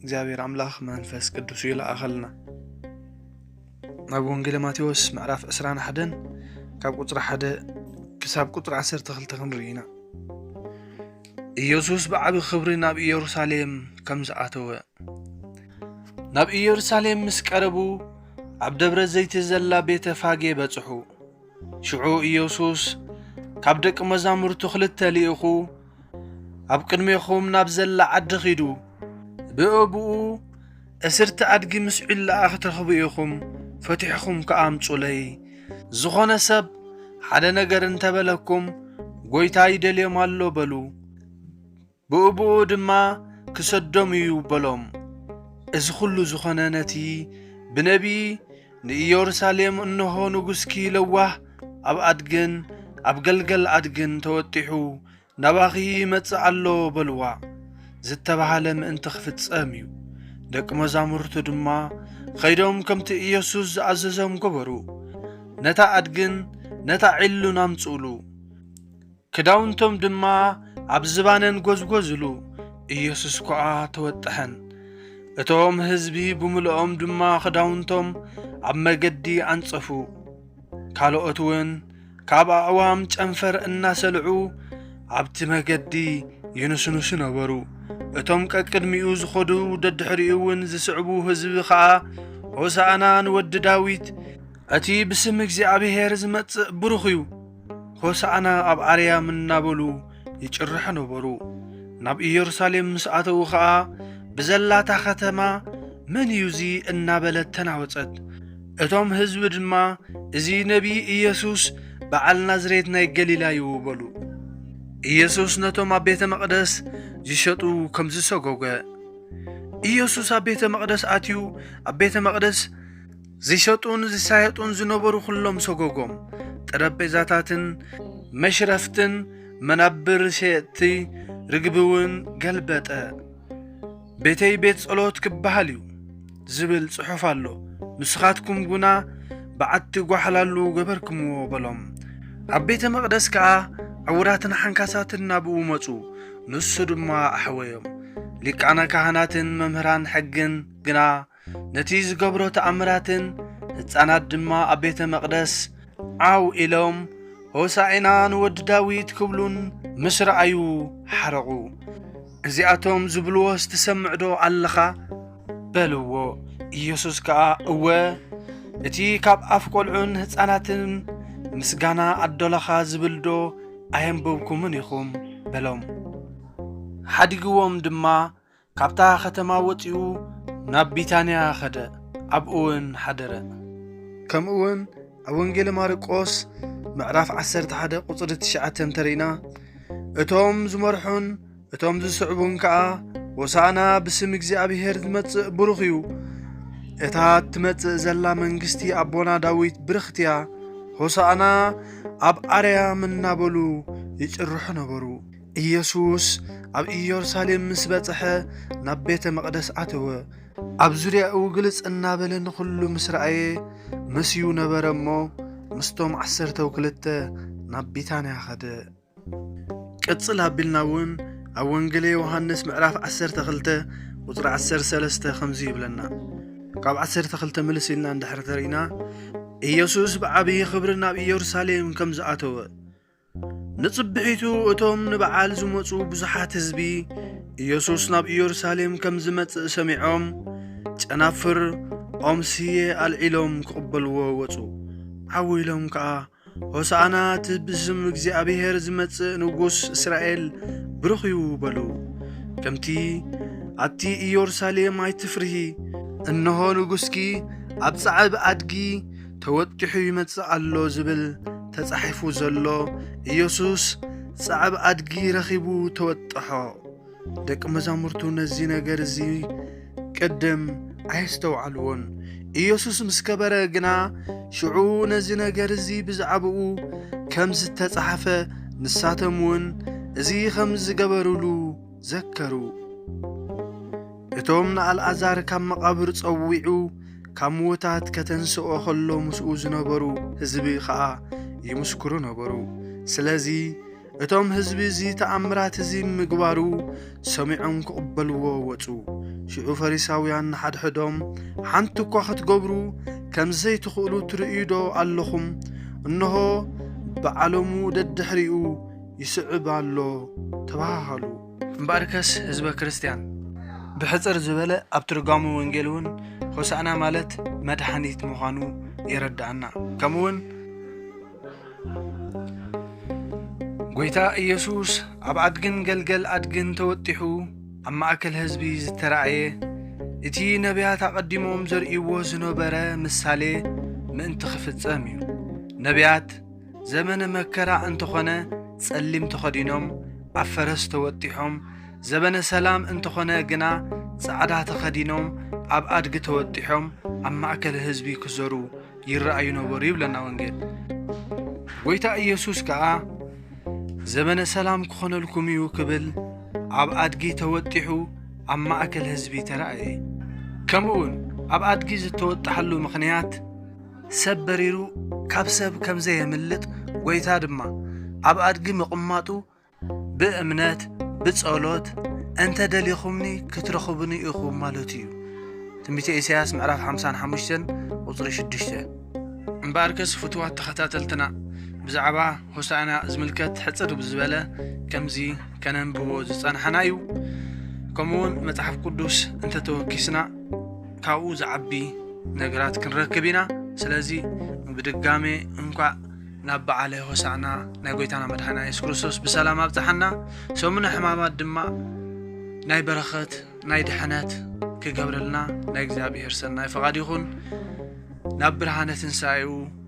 እግዚኣብሔር ኣምላኽ መንፈስ ቅዱሱ ይለኣኸልና ናብ ወንጌለ ማቴዎስ ምዕራፍ 21 ካብ ቁፅሪ 1 ክሳብ ቁፅሪ 12 ክንርኢ ኢና ኢየሱስ ብዓቢ ክብሪ ናብ ኢየሩሳሌም ከም ዝኣተወ ናብ ኢየሩሳሌም ምስ ቀረቡ ኣብ ደብረ ዘይቲ ዘላ ቤተ ፋጌ በጽሑ ሽዑ ኢየሱስ ካብ ደቂ መዛሙርቱ ክልተ ልኢኹ፣ ኣብ ቅድሜኹም ናብ ዘላ ዓዲ ኺዱ፣ ብእብኡ እስርቲ ኣድጊ ምስ ዒላኣ ክትረኽቡ ኢኹም፣ ፈቲሕኹም ከኣ ኣምጹለይ። ዝኾነ ሰብ ሓደ ነገር እንተበለኩም፣ ጐይታ ይደልዮም ኣሎ በሉ። ብኡብኡ ድማ ክሰዶም እዩ በሎም። እዚ ዅሉ ዝዀነ ነቲ ብነብዪ ንኢየሩሳሌም እንሆ፣ ንጉስኪ ለዋህ ኣብ ኣድግን ኣብ ገልገል ኣድግን ተወጢሑ ናባኺ ይመጽእ ኣሎ በልዋ ዝተባህለ ምእንቲ ኽፍጸም እዩ። ደቂ መዛሙርቱ ድማ ኸይዶም ከምቲ ኢየሱስ ዝኣዘዞም ገበሩ። ነታ ኣድግን ነታ ዒሉን ኣምጽኡሉ። ክዳውንቶም ድማ ኣብ ዝባነን ጐዝጐዝሉ፣ ኢየሱስ ኮኣ ተወጠሐን። እቶም ሕዝቢ ብምሉኦም ድማ ክዳውንቶም ኣብ መገዲ ኣንጸፉ። ካልኦትውን ካብ ኣዕዋም ጨንፈር እናሰልዑ ኣብቲ መገዲ ይንስንሱ ነበሩ። እቶም ቀቅድሚኡ ዝኸዱ ደድሕሪኡውን ዝስዕቡ ሕዝቢ ኸኣ ሆሳእና ንወዲ ዳዊት እቲ ብስም እግዚኣብሔር ዝመጽእ ብሩኽ እዩ፣ ሆሳዕና ኣብ ኣርያም እናበሉ ይጭርሑ ነበሩ። ናብ ኢየሩሳሌም ምስ ኣተዉ ኸኣ ብዘላታ ኸተማ መን እዩ እዚ እናበለት ተናወጸት። እቶም ህዝቢ ድማ እዚ ነቢይ ኢየሱስ በዓል ናዝሬት ናይ ገሊላ እዩ በሉ። ኢየሱስ ነቶም ኣብ ቤተ መቕደስ ዝሸጡ ከም ዝሰጎገ ኢየሱስ ኣብ ቤተ መቕደስ ኣትዩ ኣብ ቤተ መቕደስ ዝሸጡን ዝሳየጡን ዝነበሩ ኩሎም ሰጎጎም፣ ጠረጴዛታትን መሽረፍትን መናብር ሸየጥቲ ርግቢ'ውን ገልበጠ። ቤተይ ቤት ጸሎት ክበሃል እዩ ዝብል ጽሑፍ ኣሎ፣ ንስኻትኩም ግና በዓቲ ጓሕላሉ ገበርክምዎ በሎም። ኣብ ቤተ መቕደስ ከኣ ዕውራትን ሓንካሳትን ናብኡ መጹ፣ ንሱ ድማ ኣሕወዮም። ሊቃነ ካህናትን መምህራን ሕግን ግና ነቲ ዝገብሮ ተኣምራትን ህፃናት ድማ ኣብ ቤተ መቕደስ ዓው ኢሎም ሆሳዕና ንወዲ ዳዊት ክብሉን ምስ ረኣዩ ሓረቑ። እዚኣቶም ዝብልዎስ ትሰምዕዶ ኣለኻ? በልዎ። ኢየሱስ ከኣ እወ እቲ ካብ ኣፍ ቈልዑን ህፃናትን ምስጋና ኣዶላኻ ዝብልዶ ኣየንበብኩምን ኢኹም? በሎም። ሓዲግዎም ድማ ካብታ ኸተማ ወፂኡ ናብ ቢታንያ ኸደ፣ ኣብኡውን ሓደረ። ከምኡውን ኣብ ወንጌለ ማርቆስ ምዕራፍ ዓሰርተ ሓደ ቁፅሪ ትሽዓተ እንተርኢና እቶም ዝመርሑን እቶም ዝስዕቡን ከዓ ሆሳዕና ብስም እግዚኣብሔር ዝመጽእ ብሩኽ እዩ እታ እትመጽእ ዘላ መንግስቲ ኣቦና ዳዊት ብርኽት እያ ሆሳዕና ኣብ ኣርያም እናበሉ ይጭርሑ ነበሩ ኢየሱስ ኣብ ኢየሩሳሌም ምስ በጽሐ ናብ ቤተ መቕደስ ኣተወ። ኣብ ዙርያኡ ግልጽ እናበለ ንዅሉ ምስ ረኣየ መስዩ ነበረ እሞ ምስቶም ዓሰርተው ክልተ ናብ ቢታንያ ኸደ። ቅጽል ኣቢልና እውን ኣብ ወንጌለ ዮሃንስ ምዕራፍ 12 ቁጽሪ 13 ከምዚ ይብለና ካብ 12 ምልስ ኢልና እንድሕር ተርኢና ኢየሱስ ብዓብዪ ኽብሪ ናብ ኢየሩሳሌም ከም ዝኣተወ ንጽብሒቱ እቶም ንበዓል ዝመጹ ብዙሓት ህዝቢ ኢየሱስ ናብ ኢየሩሳሌም ከም ዝመጽእ ሰሚዖም ጨናፍር ኦም ስየ ኣልዒሎም ክቕበልዎ ወጹ። ዓው ኢሎም ከኣ ሆሳዕና እቲ ብስም እግዚኣብሔር ዝመጽእ ንጉሥ እስራኤል ብሩኽ እዩ በሉ። ከምቲ ኣቲ ኢየሩሳሌም ኣይትፍርሂ እነሆ ንጉሥኪ ኣብ ጻዕብ ኣድጊ ተወጢሑ ይመጽእ ኣሎ ዝብል ተጻሒፉ ዘሎ ኢየሱስ ጸዕብ ኣድጊ ረኺቡ ተወጠሖ። ደቂ መዛሙርቱ ነዚ ነገር እዚ ቅድም ኣየስተውዓልዎን። ኢየሱስ ምስ ከበረ ግና ሽዑ ነዚ ነገር እዚ ብዛዕባኡ ከም ዝተጻሕፈ ንሳቶም እውን እዚ ኸም ዝገበሩሉ ዘከሩ። እቶም ንኣልኣዛር ካብ መቓብር ጸዊዑ ካብ ምዉታት ከተንስኦ ኸሎ ምስኡ ዝነበሩ ህዝቢ ኸኣ ይምስክሩ ነበሩ። ስለዚ እቶም ህዝቢ እዚ ተኣምራት እዚ ምግባሩ ሰሚዖም ክቕበልዎ ወጹ። ሽዑ ፈሪሳውያን ንሓድሕዶም ሓንቲ እኳ ኽትገብሩ ከም ዘይትኽእሉ ትርእዩዶ ኣሎኹም? እንሆ፣ ብዓለሙ ደድሕሪኡ ይስዕብ ኣሎ ተባሃሃሉ። እምበኣርከስ ህዝበ ክርስትያን ብሕጽር ዝበለ ኣብ ትርጓሙ ወንጌል እውን ሆሳእና ማለት መድሓኒት ምዃኑ የረድኣና ከምኡውን ጎይታ ኢየሱስ ኣብ ኣድግን ገልገል ኣድግን ተወጢሑ ኣብ ማእከል ህዝቢ ዝተራእየ እቲ ነቢያት ኣቐዲሞም ዘርእይዎ ዝነበረ ምሳሌ ምእንቲ ኽፍጸም እዩ ነቢያት ዘበነ መከራ እንተኾነ ጸሊም ተኸዲኖም ኣብ ፈረስ ተወጢሖም ዘበነ ሰላም እንተኾነ ግና ጻዕዳ ተኸዲኖም ኣብ ኣድጊ ተወጢሖም ኣብ ማእከል ህዝቢ ክዘሩ ይረኣዩ ነበሩ ይብለና ወንጌል። ጎይታ ኢየሱስ ከኣ ዘበነ ሰላም ክኾነልኩም እዩ ክብል ኣብ ኣድጊ ተወጢሑ ኣብ ማእከል ህዝቢ ተራእየ። ከምኡውን ኣብ ኣድጊ ዝተወጣሓሉ ምኽንያት ሰብ በሪሩ ካብ ሰብ ከም ዘየምልጥ ጐይታ ድማ ኣብ ኣድጊ ምቕማጡ ብእምነት ብጸሎት እንተ ደሊኹምኒ ክትረኽቡኒ ኢኹም ማለቱ እዩ። ትንቢተ ኢሳያስ ምዕራፍ ሓምሳን ሓሙሽተን ቁጽሪ ሽዱሽተ። እምበኣርከስ ፍቱዋት ተኸታተልትና ብዛዕባ ሆሳእና ዝምልከት ሕጽር ብዝበለ ከምዚ ከነንብቦ ዝጸናሕና እዩ። ከምኡውን መጽሓፍ ቅዱስ እንተ ተወኪስና፣ ካብኡ ዝዓቢ ነገራት ክንረክብ ኢና ስለዚ ብድጋሜ እንኳዕ ናብ በዓለ ሆሳዕና ናይ ጎይታና መድሓና የሱስ ክርስቶስ ብሰላም ኣብፅሓና ሰሙነ ሕማማት ድማ ናይ በረኸት ናይ ድሕነት ክገብረልና ናይ እግዚኣብሔር ሰናይ ፈቓድ ይኹን ናብ ብርሃነ ትንሣኤኡ